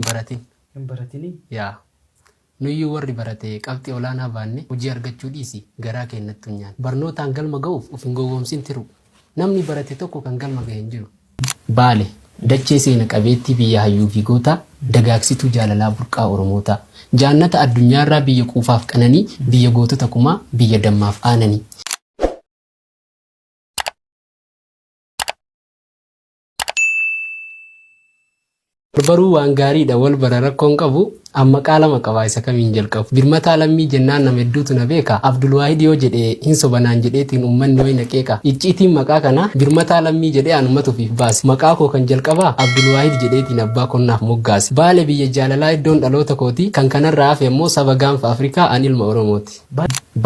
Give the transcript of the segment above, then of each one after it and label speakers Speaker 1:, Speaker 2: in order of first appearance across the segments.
Speaker 1: hin baratin. hin baratini.
Speaker 2: yaa
Speaker 1: nuyyuu warri barate qabxii olaanaa baanne hojii argachuu dhiisi garaa kee hin nattunyaan. barnootaan galma ga'uuf of hin gowwoomsin tiruu. namni barate tokko kan galma gahe hin jiru. Baale, dachee seena qabeettii biyya hayyuu fi gootaa, dagaaksituu jaalalaa burqaa Oromootaa. Jaannata addunyaarraa biyya quufaaf qananii, biyya gootota kumaa, biyya dammaaf aananii. Barbaruu waan gaariidha wal bara rakkoon qabu amma qaalama qaba isa kamiin jalqabu birmataa lammii jennaan nama hedduutu na beeka abdulwaahid yoo jedhe hin sobanaan jedheetiin ummanni way na qeeqa icciitiin maqaa kana birmataa lammii jedhee anumatu ofiif baase maqaa koo kan jalqabaa abdulwaahid jedheetiin abbaa konnaaf moggaase baale biyya jaalalaa iddoon dhaloota kooti kan kanarraa hafe ammoo saba gaanfa afrikaa an ilma oromooti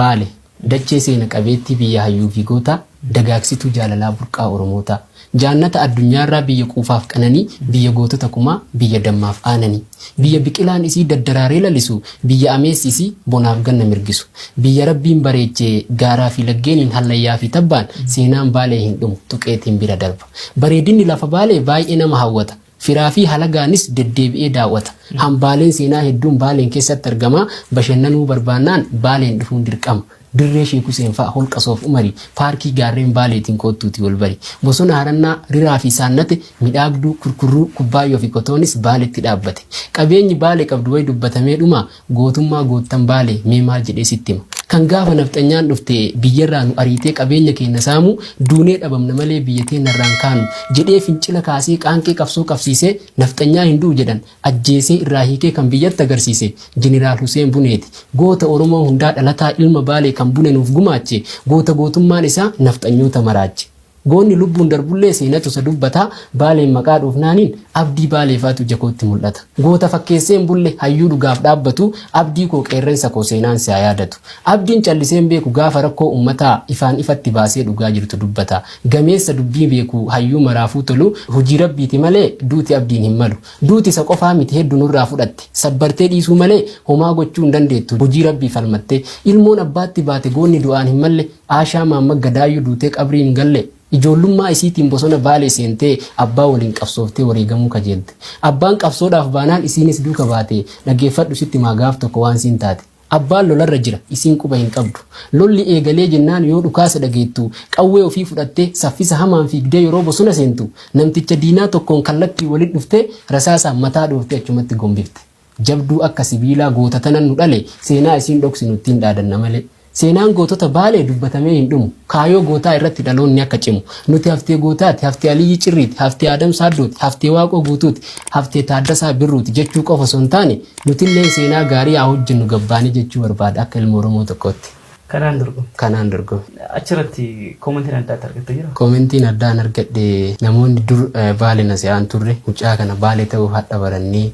Speaker 1: baale Dachee seena qabeettii biyya hayyuufi gootaa, dagaagsituu jaalalaa burqaa Oromootaa. Jaannata addunyaarraa biyya quufaaf qananii, biyya gootota kumaa, biyya dammaaf aananii. Biyya biqilaan isii daddaraaree lalisu, biyya ameessi isii bonaaf ganna mirgisu. Biyya Rabbiin bareeche gaaraafi laggeeniin hallayyaafi tabbaan, seenaan Baalee hin dhumu, tuqeetiin bira darba. Bareedinni lafa Baalee baay'ee nama hawwata. Firaa fi halagaanis deddeebi'ee daaw'ata. Hambaaleen seenaa hedduun Baaleen keessatti argama. Bashannanuu barbaannaan Baaleen dhufuun dirqama. Dirree Sheek Huseen fa'a Holqa Soof Umari, Paarkii Gaarreen Baaleetiin koottuutii wal bari. Bosona Harannaa, Riraa fi Saannate, Midhaagduu, Kurkurruu, Kubbaayyoo fi Kotoonis Baaletti dhaabbate. Qabeenyi Baale qabdu wayi dubbatamee dhumaa? Gootummaa goottan Baalee mee maal jedhee sitti hima? Kan gaafa nafxanyaan dhufte biyyarraa nu ariitee qabeenya keenya saamu duunee dhabamna malee biyya teenyarraa hin kaanu jedhee fincila kaasee qaanqee qabsoo qabsiisee nafxanyaa hin du'u jedhan ajjeesee irraa hiikee kan biyyatti agarsiise Jeneraal Huseen Buneeti. Goota Oromoo hundaa dhalataa ilma Baalee kan Bune nuuf gumaache goota gootummaan isaa nafxanyoota maraache. Goonni lubbuun darbullee seenatu isa dubbata, Baaleen maqaa dhoofnaaniin abdii Baalee faatu ija kootti mul'ata. Goota fakkeesseen bulle, hayyuu dhugaaf dhaabbatu, Abdii koo qeerrensa koo seenaan si haa yaadatu. Abdiin calliseen beeku gaafa rakkoo ummataa, ifaan ifatti baasee dhugaa jirtu dubbata. Gameessa dubbii beeku, hayyuu maraafuu tolu, hujii Rabbiiti malee duuti Abdiin hin malu. Duuti isa qofaa miti heddu nurraa fudhatte, sabbartee dhiisuu malee homaa gochuu hin dandeettu, hujii Rabbii falmattee. Ilmoon abbaatti baate goonni du'aan hin malle, Aashaa Maamma Gadaayyuu duutee qabrii hin galle. Ijoollummaa isiitiin bosona Baalee seentee abbaa waliin qabsooftee wareegamuu kajeelte. Abbaan qabsoodhaaf baanaan isiinis duuka baate. Dhageeffadhu sitti himaa gaaf tokko waan siin taate. Abbaan lolarra jira, isiin quba hin qabdu. Lolli eegalee jennaan yoo dhukaasa dhageettu qawwee ofii fudhattee saffisa hamaan fiigdee yeroo bosona seentu namticha diinaa tokkoon kallattiin walitti dhuftee rasaasaan mataa dhooftee achumatti gombifte. Jabduu akka sibiilaa goota tanan nu dhale seenaa isiin dhoksinu ittiin dhaadanna malee. Seenaan gootota Baalee dubbatamee hin dhumu. Kaayoo gootaa irratti dhaloonni akka cimu. Nuti haftee gootaati, haftee Aliyyii Cirriiti, haftee Aadam Saaddooti, haftee Waaqoo Guutuuti, haftee Taaddasaa Birruuti jechuu qofa osoo hin taane nutilleen seenaa gaarii haa hojjennu gabbaanee jechuu barbaada akka ilma Oromoo tokkootti. Kanaan dorgome. Kanaan dorgome. Achirratti
Speaker 2: koomentiin addaa itti argatte jira? Koomentiin addaa an argadhe
Speaker 1: namoonni dur Baale na se'aan turre mucaa kana Baale ta'uu hadha barannee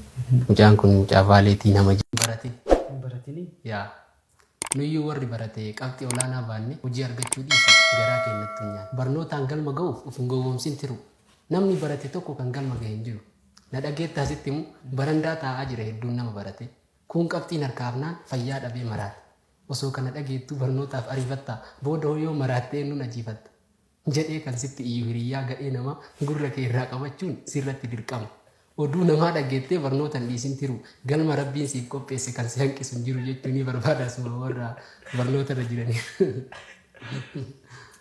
Speaker 1: mucaan kun mucaa Baaleetii nama hin barate. Hin baratinii?
Speaker 2: Yaa
Speaker 1: nuyyuu warri barate qabxii olaanaa baanne hojii argachuu dhiisi garaa kee hin nattunyaan. Barnootaan galma ga'uuf of hin gowwoomsin tiruu. Namni barate tokko kan galma gahe hin jiru. Na dhageettaa sitti himu barandaa taa'aa jira hedduun nama barate. Kuun qabxiin harkaa hafnaan fayyaa dhabee maraate. Osoo kana dhageettuu barnootaaf ariifatta, boodahoo yoo maraatte eennuun ajiifatta? jedhee kan sitti iyyu hiriyyaa gadhee namaa gurra kee irraa qabachuun sirratti dirqama. Oduu namaa dhageettee barnoota hin dhiisin tiruu, galma Rabbiin siif qopheesse kan si hanqisu hin jiru jechuu ni barbaada asuma warra barnootarra jiraniif.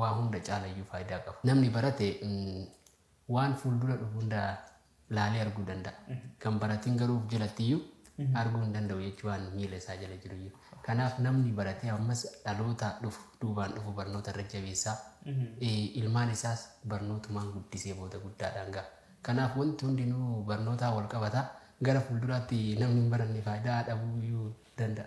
Speaker 1: waa hunda caalayyuu faayidaa qaba. Namni barate waan fuuldura dhufu hunda laalee arguu danda'a. Kan baratin garuu of jalattiyyuu arguu hin danda'u jechuu waan miila isaa jala jiruyyuu. Kanaaf namni baratee ammas dhaloota dhufu duubaan dhufu barnoota irra jabeessaa ilmaan isaas barnootumaan guddisee booda guddaadhaan ga'a. Kanaaf wanti hundinuu barnootaan wal qabata. Gara fuulduraatti namni hin baranne faayidaa dhabuuyyuu danda'a.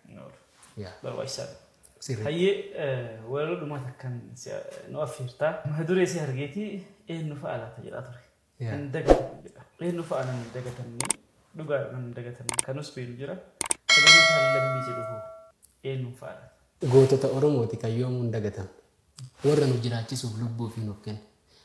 Speaker 1: hin oolu. Yaa. Barbaachisaadha.
Speaker 2: Sirrii. Hayyee walaloo dhumaa takkan nu affeertaa. Mata duree si argeetii eenyu fa'a laata jedhaa ture. Yaa. Hin dagatamu jedha. Eenyu fa'a nan hin dagatamne dhugaadha nan hin dagatamne kanus beelu jira. Sagantaan lammii jedhu hoo eenyu fa'a laata? Gootota Oromooti
Speaker 1: kan yoomuu hin dagatamne. Warra nu jiraachisuuf lubbuu ofii nuuf kenne.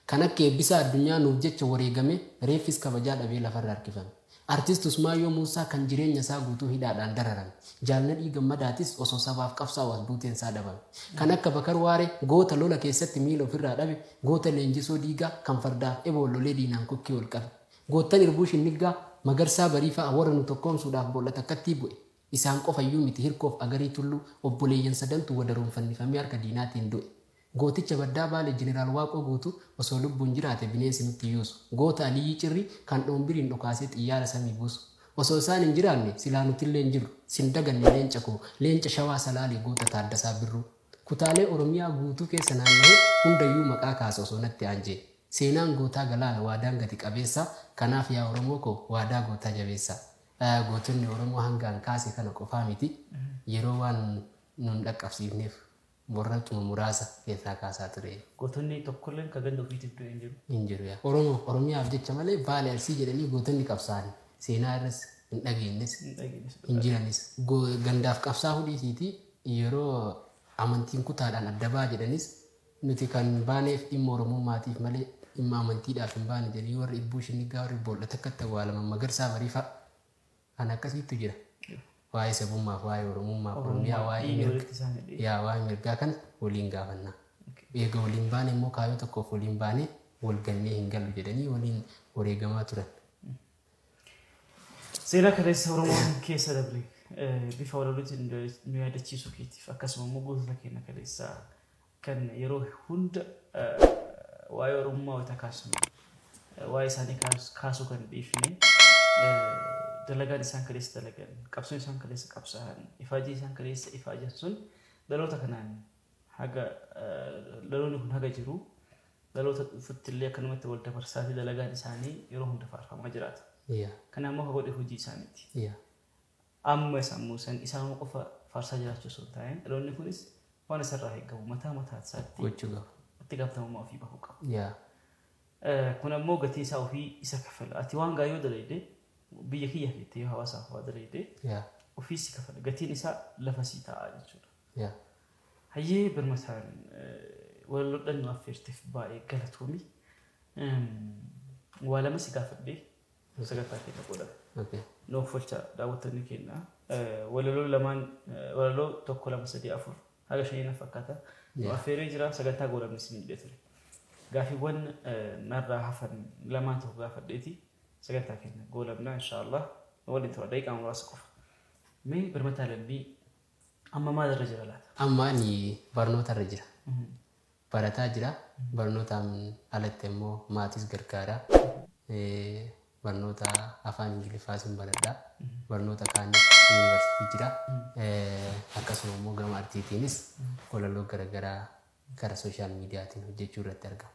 Speaker 1: Kan akka Eebbisaa Addunyaa nuuf jecha wareegamee reeffis kabajaa dhabee lafarra harkifame. Artist Usmaayyoo Muussaa kan jireenya isaa guutuu hidhaadhaan dararame. Jaal Nadhii Gammadaatis osoo sabaaf qabsaa'u as buuteen isaa dhabame. Kan akka Bakar Waaree goota lola keessatti miila ofirraa dhabe, goota Leenjisoo Diigaa kan fardaaf eboon lolee diinaan kokkee ol qabe. Goottan Irbuushin Niggaa, Magarsaa Barii fa'a warra nu tokkoomsuudhaaf boolla takkattii bu'e. Isaan qofa iyyuu miti, Hirkoof Agarii Tulluu, obboleeyyan sadantu wadaroon fannifamee harka diinaatiin du'e. Gooticha Baddaa Baalee Jeneraal Waaqoo Guutuu, osoo lubbuun jiraate bineensi nutti yuusu. Goota Aliyyii Cirrii, kan Dhoombiriin dhokaasee xiyyaara samii buusu. Osoo isaan hin jiraanne, silaa nutillee hin jirru. Sin daganne leenca koo, leenca Shawaa Salaalee goota Taaddasaa Birruu. Kutaalee Oromiyaa guutuu keessa naanna'ee, hunda iyyuu maqaa kaasa osoo natti aanjee. Seenaan gootaa galaana, waadaan gati qabeessa, kanaaf yaa Oromoo koo, waadaa gootaa jabeessa. Gootonni Oromoo hanga an kaase kana qofaa miti. Yeroo waan nu hin dhaqqabsiifneef borracuma muraasa keessaa kaasaa ture. Gootonni tokkolleen
Speaker 2: ka ganda ufiitiif du'e hin jiru. hin jiru. Oromoof,
Speaker 1: Oromiyaaf jecha malee Vaale Arsii jedhanii gootonni qabsaa'an seenaa irras hin dhageenyes, Hin dhageenyes hin dhugaa. jiranis. Go- Gandaaf qabsaa'uu dhiisiitii yeroo amantiin kutaadhaan adda ba'a jedhanis Nuti kan baaneef dhimma Oromummaatiif malee dhimma amantiidhaaf hin baane jedhanii warri Irbuu Shinniggaa, warri Boolla Takkatti awwaalaman, Magarsaa Barii fa'a. Kan akkasiittu jira. Waa'ee sabummaaf, waa'ee Oromummaaf, Oromiyaa, Oromummaa waa'ee dhiiga mirga, walitti isaan hidhee. yaa waa'ee mirgaa kana waliin gaafanna. Eega waliin baane immoo kaayyoo tokkoof waliin baanee wal gallee hin gallu jedhanii waliin wareegamaa turan.
Speaker 2: Seenaa kaleessa Oromoon keessa dabre bifa walalotiin nu yaadachiisuu keetiif akkasuma immoo gootota keenya kaleessaa kan yeroo hunda waa'ee Oromummaa wayita kaasnu waa'ee isaanii kaasuu kan dhiifne dalagaan isaan kaleessa dalagan qabsoon isaan kaleessa qabsaa'an ifaajee isaan kaleessa ifaajan sun dhaloota kanaan haga dhaloonni kun haga jiru dhaloota dhufutti illee akkanumatti wal dabarsaati dalagaan isaanii yeroo hunda faarfamaa jiraata. Yaa. Kana ammoo ka godhe hojii isaaniiti. Yaa. Amma isa ammoo san isaanuma qofa faarsaa jiraachuu osoo hin taa'in dhaloonni kunis waan isarraa eegamu mataa mataa isaatti Gochuu qaba. itti
Speaker 1: gaafatamummaa ofii
Speaker 2: bahuu qaba. Yaa. Eh, Kun ammoo gatii isaa ofii isa kafala. Ati waan gaarii yoo dalayde biyya kiyya keetti yoo hawaasaaf waa dalayde Yaa. ofii si kafala. Gatiin isaa lafa sii taa'aa jechuudha. Yeah. Hayyee birmataan walaloodhan nu affeerteef baay'ee galatoomi. Waa lama si gaafadhee sagantaa keenya booda Okay. nu offolchaa daawwattoonni keenya. Walaloo lamaan walaloo tokko lama sadii afur haga shanii na fakkaata. Nu Yeah. affeeree jira sagantaa goolabnis ni jedhee ture. Gaaffiiwwan narraa hafan lamaan tokko gaafadheeti sagantaa keenya goolabnaa inshaallah waliin tura daqiiqaa muraasa qofa. Mee birmataa lammii Amma maal irra jira laata? Amma ani
Speaker 1: barnoota irra jira. Barataa jira. Barnootaan alatti ammoo maatis gargaara. Barnoota afaan Ingiliffaas hin baradha. Barnoota kaanis yuunivarsiitii jira. Akkasuma immoo gama artiitiinis walaloo garaagaraa gara sooshaal miidiyaatiin hojjechuu irratti argama.